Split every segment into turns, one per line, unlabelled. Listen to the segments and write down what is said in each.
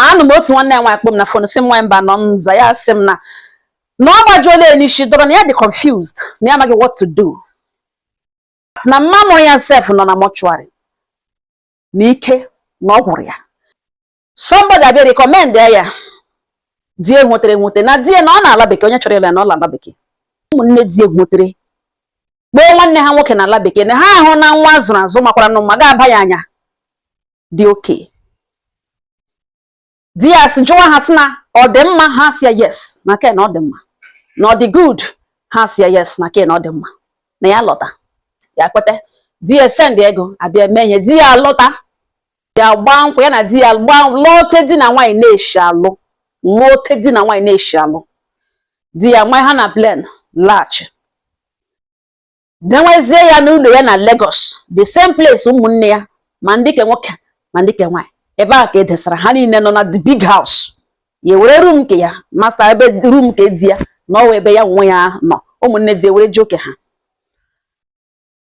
anụ m otu nwanne ya nwaanyị kpọ m na fon sị m nwaanyị Mbanọ m za ya sị m na na ọ gbajuola ya n'isi dọrọ na ya dị confused na ya amaghị what to do na mma mụrụ ya sef nọ na mọchụarị na ike na ọ gwụrụ ya somebody abịa rekọmend ya di e nwetere nwete na di ya na ọ nọ ala bekee onye chọrọ ịlụ ya na ọ nọ ala bekee ụmụnne di e nwetere kpọọ nwanne ha nwoke na ala bekee na ha ahụna nwa a zụrụ azụ makwara nụ mma ga-aba ya anya dị okay di ya si jụwa ha sị na ọ dị mma ha sị ya yes na ke a na ọ dị mma na ọ dị good ha sị ya yes na ke a na ọ dị mma na ya lọta ya kweta di ya send ego abịa mee ihe di ya lọta ya gbaa nkwụ ya na di ya gbaa lụọ otu di na nwaanyị na-eshi alụ lụọ otu di na nwaanyị na-eshi alụ di ya nwa ha na plen laghachi denwezie ya n'ụlọ ya na Lagos the same place ụmụnne ya ma ndị ke nwoke ma ndị ke nwaanyị ebe a ka e desara ha niile nọ na the big house ya were rum nke ya master bedroom nke di ya na ọ wụ ebe ya nwe ya nọ ụmụnne di were ji oke ha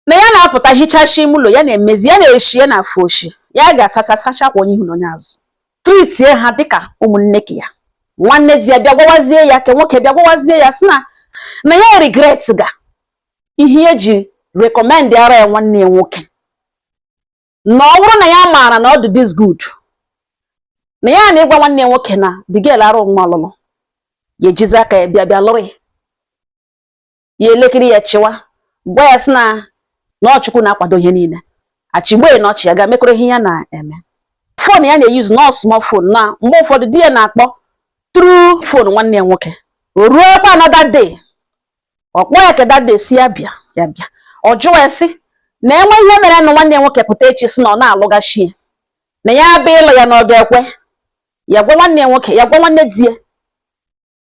na ya na-apụta hichashi ime ụlọ ya na-emezi ya na-eshi ya na afọ oshi ya ga-asacha sacha kwa onye ihu na onye azụ tritie ha dịka ụmụnne ke ya nwanne di ya bịa gwawazie ya ke nwoke bịa gwawazie ya sị na na ya regret ga ihe ya ji rekọmendara ya nwanne ya nwoke na ọ bụrụ na ya maara na ọ dị this good na ya ana ịgwa nwanne ya nwoke na the girl arụ mma ọlụlụ ya ejizi aka ya bịa bịa lụrụ ya ya elekere ya chịwa gwa ya sị na na ọ Chukwu na-akwado ihe niile achịgbe na ọchị ya ga mekọrọ ihe ya na-eme fon ya na-eyuzu na ọ small fon na mgbe ụfọdụ di ya na-akpọ tru fon nwanne ya nwoke o ruokwa another day ọ kpọ ya ka that day sị ya bịa ya bịa ọ jụwa ya sị na e nwee ihe mere na nwanne ya nwoke pụta echi sị na ọ na-alụghachi ya na ya abịa ịlụ ya na ọ ga-ekwe ya gwa nwanne ya nwoke ya gwa nwanne di ya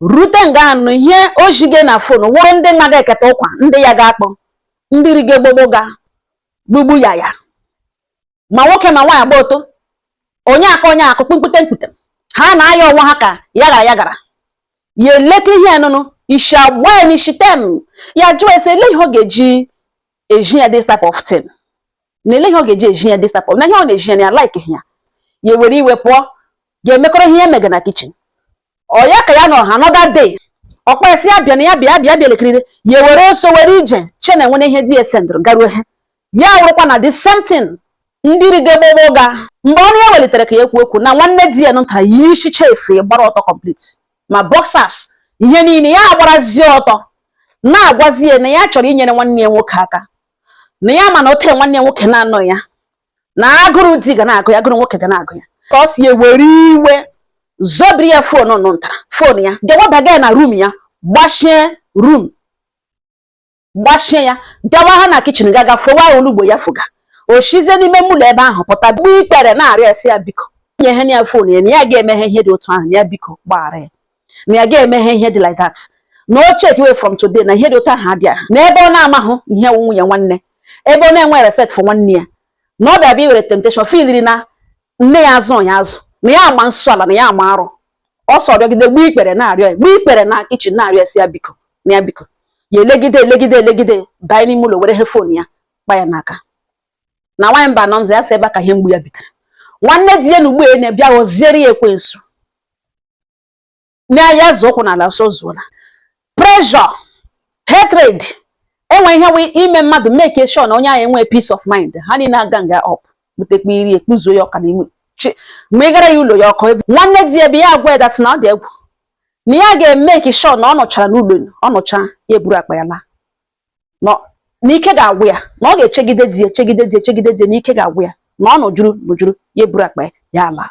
rute nga anụ ihe o jige na fon wụrụ ndị naga eketa ụkwa ndị ya ga-akpọ ndị riga gbogbo ga gbugbu ya ya ma nwoke ma nwaanyị gba ọtọ onye akọ onye akụ kpukpute mkpute ha na-aya onwe ha ka ya gara ya gara ya eleta ihe nụnụ isi agba ya n'isi tem ya jụọ ya sị elee ihe ọ ga-eji ezi ya this type of thing na elee ihe ọ ga-eji ezi ya this type of na ihe ọ na-eji ya na ya like ya ya were iwe pụọ ga emekọrọ ihe ya mega na kichin ọ ya ka ya nọ ha another day ọ kpọ ya sị ya bịa na ya bịa bịa bịa elekiride ya were ọsọ were ije che na e nwere ihe di ya sendụrụ garuo ha ya wụrụkwa na the same thing ndị riga gbogbo ga mgbe ọnụ ya welitere ka ya ekwu okwu na nwanne di ya nụtara yishicha efe gbara ọtọ complete ma boxers ihe niile ya agbarazie ọtọ na-agwazi ya na ya chọrọ inyere nwanne ya nwoke aka na ya ma na ote nwanne ya nwoke na-anọ ya na agụrụ di ga na-agụ ya agụrụ nwoke ga na-agụ ya sị ya ewere iwe zobiri ya fon nụ ntara fon ya gewabaga ya na rum ya gbachie rum gbachie ya gawa ha na kitchen gaga fọwa olugbu ya fọga o shizie n'ime ụlọ ebe ahụ pụta gbuo ikpere na-arịọ sị ya biko nye ha ya phone ya na ya ga-emeghe ihe dị otu ahụ na ya biko gbaghara ya na ya ga-emeghe ihe dị like that na o check away from today na ihe dị otu ahụ adịa na ebe ọ na-amahụ ihe nwunye nwanne ebe ọ na-enwe respect for nwanne ya na ọ bịa bịa iwere temptation filiri na nne ya azụ ya azụ na ya ama nsọ ala na ya ama arụ ọ sị ọ rịọgide gbuo ikpere na-arịọ ya gbuo ikpere na kitchen na-arịọ sị ya biko na ya biko ya elegide elegide elegide banye n'ime ụlọ were phone ya gba ya n'aka na nwaanyị mba nọ nza ya sị ebe a ka ihe mgbu ya bitere nwanne di ya na ugbu a na-abịa ghọziere ya ekwensu na ya zọọ ụkwụ n'ala sị ọ zọla pressure hatred enwe ihe wee ime mmadụ make sure na onye ahụ enwe peace of mind ha niile a-gang-a up butekwa iri ekpuzuo ya ọka n'ime ma ị gara ya ụlọ ya ọkụ egwu nwanne di ya abịa gwa ya that na ọ dị egwu na ya ga-make sure na ọ nọchara n'ụlọ ọ nọcha ya eburu akpa ya laa na ike ga-agwụ ya na ọ ga-echegide di echegide di echegide di na ike ga-agwụ ya na ọ nọjuru nọjuru ya eburu akpa ya laa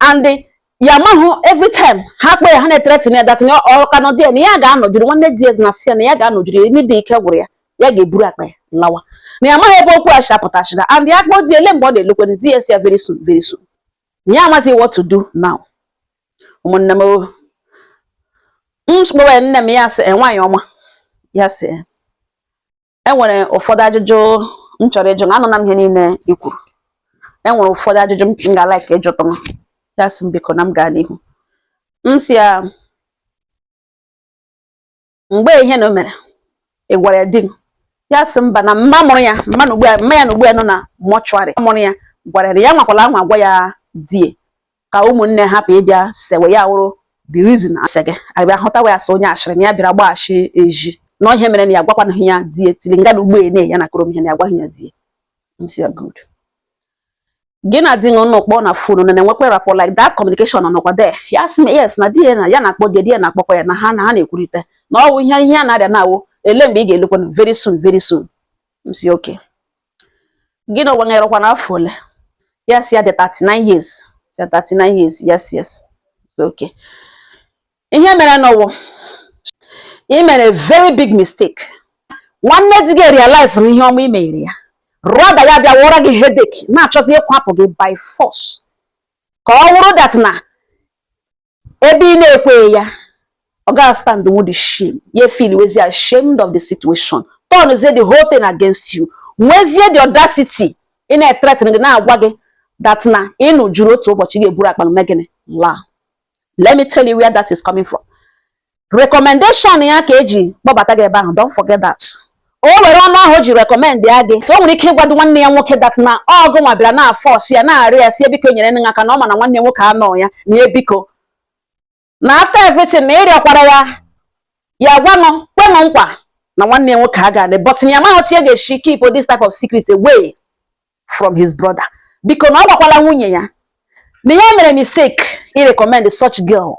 and di ya amahụ every time ha kpọ ya ha na-threaten ya that ọ ka nọ di ya na ya ga-anọjiri nwanne di ya na-asị ya na ya ga-anọjiri ya ime dị ike gwụrụ ya ya ga-eburu akpa ya lawa na ya amaghị ebe okwu a shi apụtachịga and ya kpọọ di ele mgbe ọ na-alọkwanụ di ya sị ya very soon very soon na ya amaghị what to do now ụmụnne m o. m kpọwa ya nne m ya sị "Eh, nwaanyị ọma ya sị "Eh, e nwere ụfọdụ ajụjụ m chọrọ ịjụ na anụna m ihe niile i kwuru e nwere ụfọdụ ajụjụ m ga like ịjụtụ m ya sị m biko na m gaa n'ihu m sị ya mgbe ihe na o mere ị gwara ya di m ya sị mba na mma mụrụ ya mma ya na ugbu a nọ na mortuary mụrụ ya gwara ya ya anwakwala anwa gwa ya di ya ka ụmụnne hapụ ịbịa sewe ya wụrụ the reason asị gị abịa hụta ya as onye ashịrị na ya bịara gbaghachi eji na ihe mere na ya gwakwanahụ ya di ya till nga na ugbene ya na-akọrọ m ihe na ya gwaghị ya di ya m sị ya good gị na di na-akpọ na phone na na-enwekwa rapport like that communication nọkwa there ya sị yes na di ya na ya na-akpọ di ya na-akpọkwa ya na ha na ha na-ekwurịta na ọ bụ ihe ihe a na-arịọ na-awụ ele mgbe ị ga-alọkwa very soon very soon m sị okay gị nwa erukwana afọ ole ya sị ya dị 39 years ya 39 years yes yes okay ihe mere nụ wụ ị mere very big mistake nwanne di gị realize na ihe ọma i mere ya rather ya bịa wụọrọ gị headache na-achọzi ịkwapụ gị by force ka ọ wụrụ that na ebe ị na-ekweghị ya ọ gaghị stand with the shame ya feel wezie ashamed of the situation turnzie the whole thing against you nwezie the audacity ị na-etretin gị na-agwa gị that na ị nọjuru otu ụbọchị ga-eburu akpa mee gịnị laa let me tell you where that is coming from recommendation ya ka e ji kpọbata gị ebe ahụ don't forget that o were ọnụ ahụ o ji rekọmend ya gị o nwere ike ịgwado nwanne ya nwoke dat na ọ gị nwa bịara na-afọsị ya na-arịọ ya si ya biko nyere nne aka na ọ ma na nwanne ya nwoke anọ ya na biko na after everything na ị rịọkwara ya ya gwanụ kwenụ nkwa na nwanne ya nwoke a ga-adị but ya amaghị otu ya ga-esi keep this type of secret away from his brother biko na ọ gwakwala nwunye ya na ya mere mistake i recommend such girl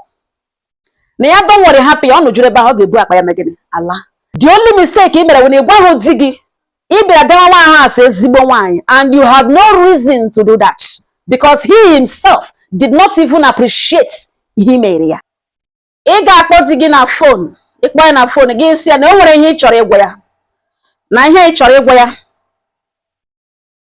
na ya don't worry hapụ ya ọ nọjuru ebe ahụ ọ ga-ebu akpa ya mee gịnị ala the only mistake ị mere wụ na ị gwaghị di gị ị bịara dewa nwa ahụ as ezigbo nwaanyị and you had no reason to do that because he himself did not even appreciate ihe i mere ya ị ga-akpọ di gị na fon ị kpọọ ya na fon gị si ya na o nwere ihe ị chọrọ ịgwa ya na ihe ị chọrọ ịgwa ya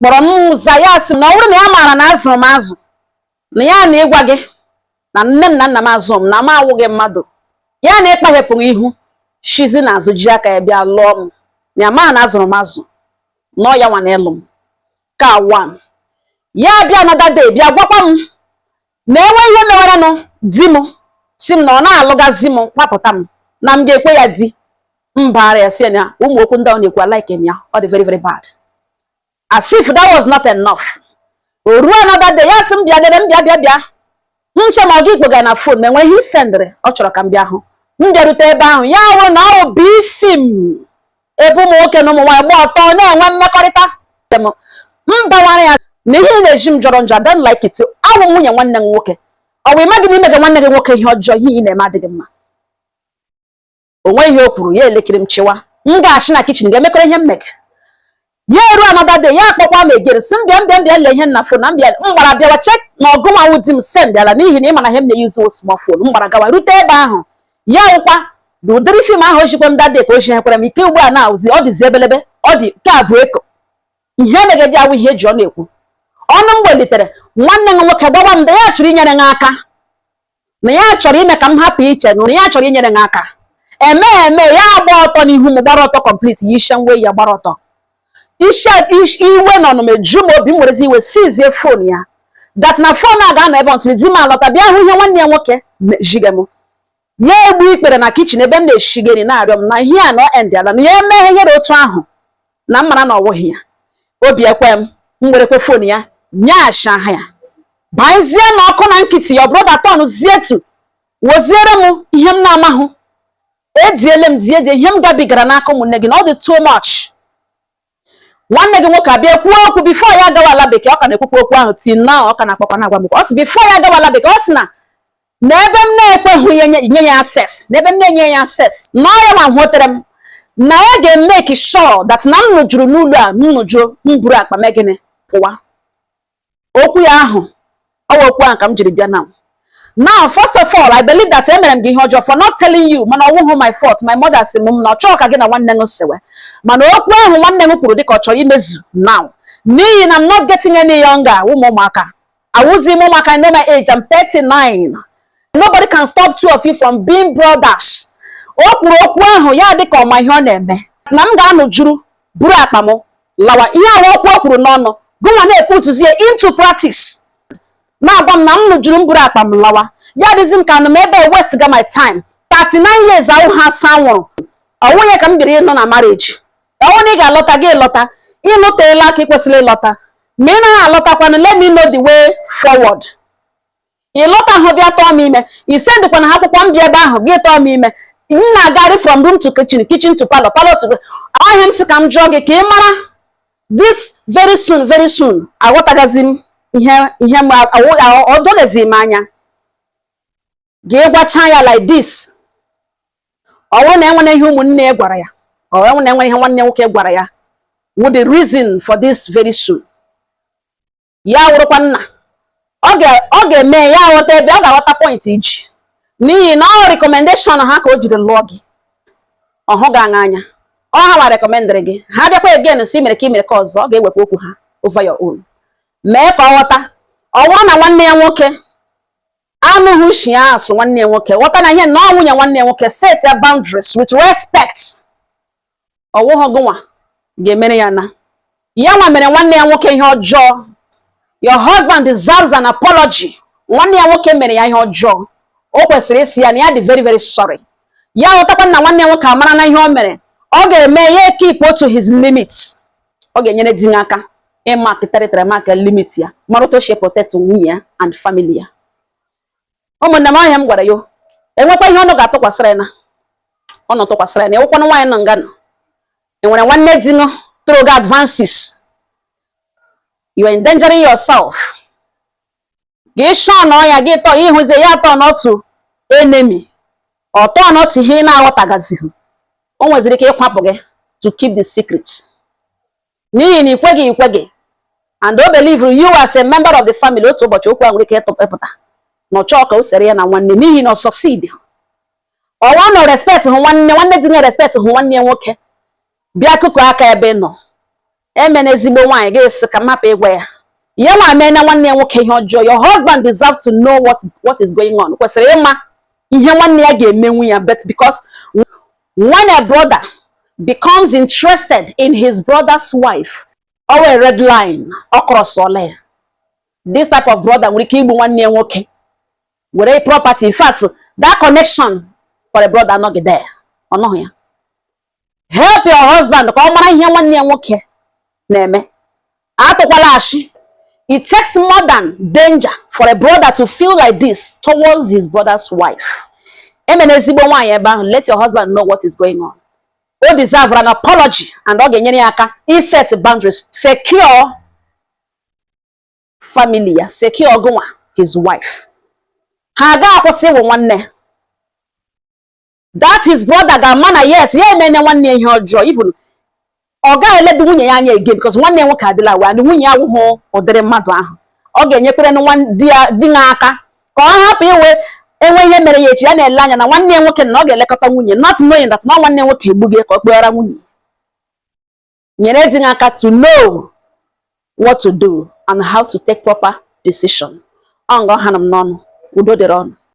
kpọrọ m m za ya sị m na ọ bụrụ na ya maara na a zụrụ m azụ na ya na ịgwa gị na nne m na nna m azụ m na m awụghị mmadụ ya na ịkpaghepụ gị ihu shizie n'azụ ji aka ya bịa lụọ m na ya maara na a zụrụ m azụ na ọ ya nwa na ịlụ m ka wan ya bịa another day bịa gwakwa m na e nwee ihe mewaranụ di m si m na ọ na-alụgazi m kwapụta m na m ga-ekwe ya di m baara ya si ya na ụmụ okwu ndị ọ na-ekwu alaike m ya ọ dị very very bad as if that was not enough o ruo another day ya sị m bịa dere m bịa bịa bịa m che ma ọ gị kpọga na fon ma e nwe ihe i sendịrị ọ chọrọ ka m bịa hụ m bịarute ebe ahụ ya wụrụ na ọ bụ fim ebe ụmụ nwoke na ụmụ nwaanyị gba ọtọ na-enwe mmekọrịta m bawara ya na ihe ị na-ezi m jọrọ njọ I don't like it awụ m nwunye nwanne gị nwoke ọ bụ ị maghị na i mega nwanne gị nwoke ihe ọjọọ ihe ị na-eme adịghị mma o nweghị ihe o kwuru ya elekiri m chịwa m gachi na kichin ga-emekọrọ ihe m mega ya eru another day ya akpọkwa m egere si m bịa m bịa m bịa lee ihe na fon na m bịa m gbara bịawa chek na ọ gị nwa wụ di m send ala n'ihi na ị ma na ihe m na-eyuzu small phone m gbara gawa rute ebe ahụ ya wụkwa na ụdịrị fim ahụ o zikwa m that day ka o zikwara m nke ugbu a na-awụzi ọ dịzi ebelebe ọ dị ka abụ eko ihe megadi awụ ihe e ji ọnụ ekwu ọnụ m gbelitere nwanne gị nwoke gwawa m da ya chọrọ inyere m aka na ya chọrọ ime ka m hapụ iche na ya chọrọ inyere m aka eme eme ya agba ọtọ n'ihu m gbara ọtọ kọmplit ya ishe nwe ya gbara ọtọ ishe ish- iwe na ọnụma eju m obi m werezi iwe sizie fon ya dat na fon a ga-anọ ebe until di m alọta bịa hụ ihe nwanne ya nwoke me- ziga m ya egbu ikpere na kichin ebe m na-eshiga iri na-arịọ m na ihe a na ọ endịala na ya mehiere otu ahụ na m mara na ọ wụghị ya obi ekwe m m werekwa phone ya nyeghachi aha ya baezie na ọkụ na nkịtị ya ọbụrụ daton zietu woziere m ihe m na-amahụ ediele m die die ihe m gabigara n'aka ụmụnne gị na ọ dị too much nwanne gị nwoke abịa kwuo okwu before ya agawa ala bekee ọ ka na-ekwukwa okwu ahụ till na ọ ka na-akpakwa na-agwa m ọ sị before ya agawa ala bekee ọ sị na na ebe m na-ekweghị ya nye nye ya access na ebe m na-enye ya access na ọ ya nwa hụtere m na ya ga-emake sure that na m nụjuru n'ụlọ a m nụjuo m buru akpa m mee gịnị pụwa okwu ya ahụ ọ wụ okwu ahụ ka m jiri bịa na now first of all i believe that emere m gị ihe ọjọọ for not telling you mana ọ wụghụ my fault my mother sị m na ọ chọọ ka gị na nwanne gị sewe mana okwu ahụ nwanne gị kwuru dịka ọ chọrọ imezu now n'ihi na i'm not getting any younger ụmụ ụmụaka Awụzi m ụmụaka I know my age, I'm 39. Nobody can stop two of you from being brothers. O kwuru okwu ahụ ya dị ka ọ ma ihe ọ na-eme. Na m ga-anụjuru buru akpa m lawa ihe ahụ okwu o kwuru n'ọnụ gụnwa na-eputuzie into practice na-agwa m na m nụjuru m buru akpa m lawa ya dịzi m ka nọ m ebe a wastega my time 39 years ahụ ha sị m wụrụ ọwụnye ka m biri ịnọ na marriage ọ wụ na ị ga-alọta gị lọta ị nọteela ka ị kwesịrị ịlọta ma ị naghị alọtakwanụ let me know the way forward ị lọtahụ bịa tụọ m ime i sendịkwana ha akwụkwọ m bịa ebe ahụ gị tụọ m ime m na-agagharị from room to kitchen kitchen to parlour parlour to ahịa m sị ka m jụọ gị ka ị mara this very soon very soon aghọtaghịzi m ihe ihe m o doghịzi m anya gị gwacha ya like this ọ wụrụ na enwere ihe ụmụnne gwara ya ọ wụ na enwere ihe nwanne nwoke gwara ya wụ the reason for this very soon ya wụrụkwa na ọ ga-eme ya ghọta ebe ọ ga-aghọta point i ji n'ihi na ọ recommendation ha ka o jiri lụọ gị ọ hụ gị anya ọ ha nwa recommendịrị gị ha bịakwa again sị i mere nke a i mere nke ọzọ ọ ga-ewekwa okwu ha over your own mee ka ọ ghọta ọ wụrụ na nwanne ya nwoke anụghị ushi ya asị nwanne ya nwoke ghọta na ihe na ọ nwunye nwanne ya nwoke setịa boundaries with respect ọ wụghị gụnwa ga-emere ya na ya nwa mere nwanne ya nwoke ihe ọjọọ your husband deserves an apology nwanne ya nwoke mere ya ihe ọjọọ o kwesịrị ịsị ya na ya dị very very sorry ya ghọtakwa na nwanne ya nwoke amarana ihe o mere ọ ga-eme ya keep to his limits ọ ga-enyere di gị aka ịmark territory mark limit ya mara otu o si eprotect nwunye ya and family ya ụmụnne m ihe a m gwara ya enwekwa ihe unu ga-atụkwasịra ya na unu tụkwasịra ya na ị wụkwanụ nwaanyị nọ nga ị nọ i nwere nwanne di nọ throwga advances you are endangering yourself gị shụọ na ọya gị tọ ịhụzie ya tọ n'otu enemy ọtọ n'otu ihe ị na-aghọtagazighị o nweziri ike ịkwapụ gị to keep the secret n'ihi na ikweghị ikweghị and o believe you as a member of the family otu ụbọchị okwu a nwere ike ịpụta na ọ chọọ ka o sere ya na nwanne n'ihi na ọ succeed ọwa nọ respect hụ nwanne nwanne di na respect hụ nwanne ya nwoke bịa kụkụ aka ebe nọ emena ezigbo nwaanyị gị sị ka m hapụ ịgwa ya ya nwa emena nwanne ya nwoke ihe ọjọọ your husband deserves to know what is going on kwesịrị ịma ihe nwanne ya ga-emenwu ya but because when a brother becomes interested in his brother's wife o nwe red line ọ crossọla ya this type of brother nwere ike igbu nwanne ya nwoke were property in fact that connection for a brother anọghị there ọ nọghị ya help your husband ka ọ mara ihe nwanne ya nwoke na-eme atụkwala ashị it takes more than danger for a brother to feel like this towards his brother's wife emena ezigbo nwaanyị ebe ahụ let your husband know what is going on o deserve an apology and ọ ga-enyere ya aka iset boundaries secure family ya secure gụnwa his wife ha ga-akwụsị ịwụ nwanne that his brother ga-ama na yes ya emene nwanne ya ihe ọjọọ even ọ gaghị eledo nwunye ya anya again because nwanne ya nwoke adịla aware na nwunye ya awụhụ ụdịrị mmadụ ahụ ọ ga-enyekwere di ya di ya aka ka ọ hapụ iwe e nwee ihe mere ya echi ya na-ele anya na nwanne ya nwoke na ọ ga-elekọta nwunye not knowing that na nwanne nwoke egbu gị ka ọ kpọghara nwunye nyere di ya aka to know what to do and how to take proper decision ọ nga ọ ha m n'ọnụ udo dịrị unu